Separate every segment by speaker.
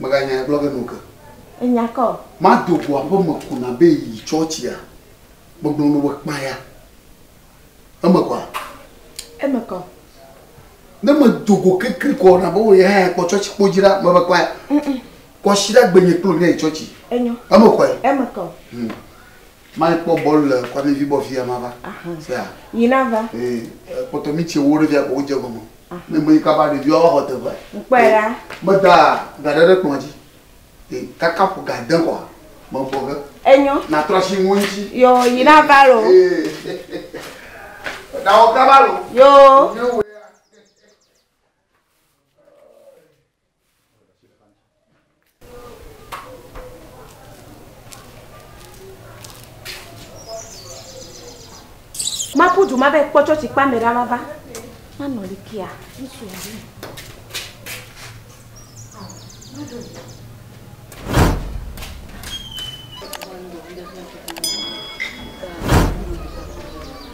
Speaker 1: Mèganyae gblɔ ge noke. Enya ka o? Mado go aƒeme ko nabe yi tsɔtsia? Megblɔ nɔ be kpaya. Eme kɔa? Eme kɔ. Ne medo go kekli kɔ nabe wò yehã ya kpɔ tsɔtsi kpo dzi ɖa, mebe kpaya. Kɔsiɖa gbenye kplo ne yi tsɔtsi. Enyo. Eme kɔe? Eme kɔ. Hmm. Mai kpɔ bɔl le kwami vi bɔ fia ma va fia yi na va ee kpɔtɔ mi tse wo ɖe fia ko wo dze gɔme ne me yi kaba ɖe vi wa xɔ te va kpɛ la me da ga ɖe ɖe kplɔ dzi ee kaka ƒo ga de kɔ me bɔ ge enyɔ na trɔ si ŋu ŋuti yo yi na va lo ee da wo kaba lo yo Maƒu du ma be kpɔ tsɔtsi kpa me ɖa mava. Manɔ li kia. Ŋutsu ya ɖi.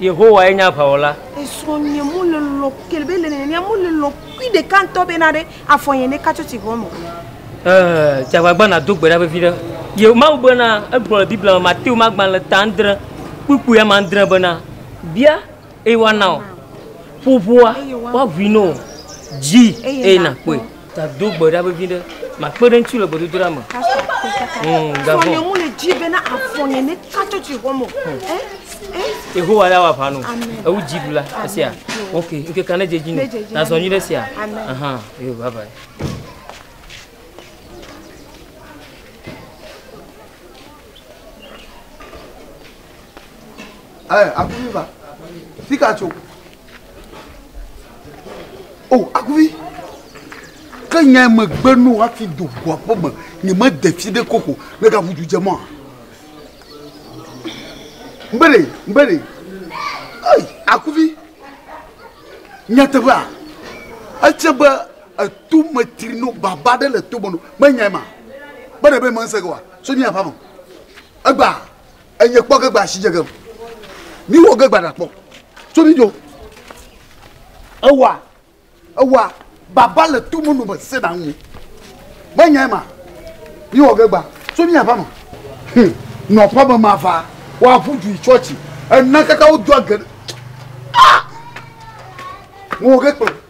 Speaker 1: Yehowae nye aʋawɔla. Esrɔ̃ nye mo le lɔ kele be le nenea mo le lɔ kui ɖeka ŋutɔ be na ɖe afɔ nye ne katso tsi hɔn o. Ɛɛ, dze agbagba nàdo gbe ɖa vevi ɖe Yeho-. Mawu bena, egblɔ le Biblia me, Mateo me agbalẽ ta andre, kpukpui ame andre bena, Bia, eye woana wò, ƒo ʋua, woaʋui na wò, dzi, eye nàkpɔe. Gado gbe ɖa vevi ɖe. Makpe ɖe ŋuti le gbedodoɖa me. Gavon. Nye mu le dzi bena afɔ nye ne katsɔ tsi hɔ mo. Yehowa ya wa vanu. Ewu dzi ɖu la. Esia. Ok. Nke ka ne dze dzi ne. Na zɔ nyi ɖe sia. Amen. Yo bye bye. Hey, Abuiva, fica, tio. O oh, akuvi. Ke nya me gbe nu hafi do ʋua ƒe me. Nye me de fi ɖe koko. Ne ka vudu dze mɔ. Mbele, mbele. Ei, akuvi. Nyateƒea. Etse be etu me tri no baba ɖe le to me no. Me nya ma. Bere be me nse kwa. So nya fa mo. Egba. Enye kpɔ ge gba asi dze gem. Mi wɔ ge gba ɖa kpɔ. Tso mi dzo. Ewa ewa baba le tu mu nu me se na ŋu. Me nya ma. Mi wɔ ge gba. Tso mi ava me. Hm. Nɔ ƒe me ma va. Wa ʋu ju chɔchi. Ena kaka wo do age. Ah! Mo ge kpɔ.